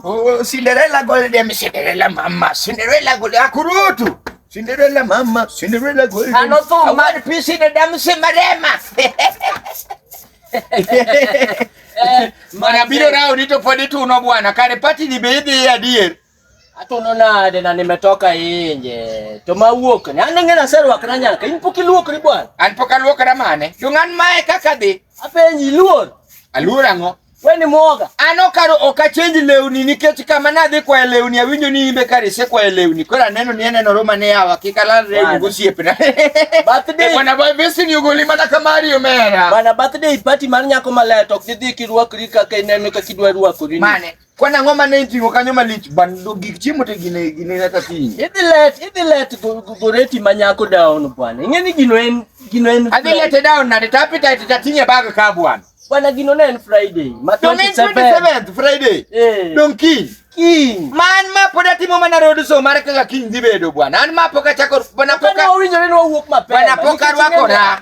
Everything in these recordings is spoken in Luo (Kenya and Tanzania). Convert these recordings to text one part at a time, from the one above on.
Oh, Cinderella Golden, Cinderella mama, Cinderella Golden, akurutu. Cinderella mama, Cinderella Golden. Anotuma. One piece in the dam Cinderella. Mara biro rao nito podi tuno bwana, kare pati ni bebe ya dear. Atono nade na nimetoka inje. To mawuok ni an ng'ena serwak na nyaka in pok iluokri bwana. An pok aluokra mane. To ng'an mae kaka dhi. Apenji luor. Aluor ang'o? We ni mwoga. An okaro ok achenj lewni nikech kama nadhi kwayo lewni awinjo ni imbe kar isekwayo lewni. Koro aneno ni aneno roma ne yawa kik alal rewni gosiepna. Birthday. Bwana boy visi ni ugoli mana ka Mario mera. Bwana birthday party mar nyako maler to ok didhi kirwakri kaka ineno kaka idwa rwakori. Mane? Kwan ang'o ma ne iting'o kanyo malich bando gik chiemo te gine gine kaka piny. Idhi let, idhi let go- go- goreti ma nyako daono bwana. Ing'e ni gino en gino en Adhi lete down nade to appetite to ating'e bag ka bwana. Bwana gino ne en Friday. Ma Dong en 27. 27th Friday. Eh. Dong kiny. King. Ma an ma pod atimo mana road show mar kaka kiny dhi bedo bwana. An ma pok achako bwana pok Kane a- wawinjore ni wawuok mapema. bwana pok nikech ing'e arwakora.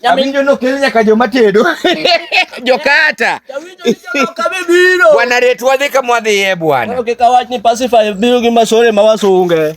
Jawinjo nokel nyaka joma tedo jokata bwana ret wadhi kama wadhiye bwana. Okay, kawach ni pacify biro gi masore ma wasunge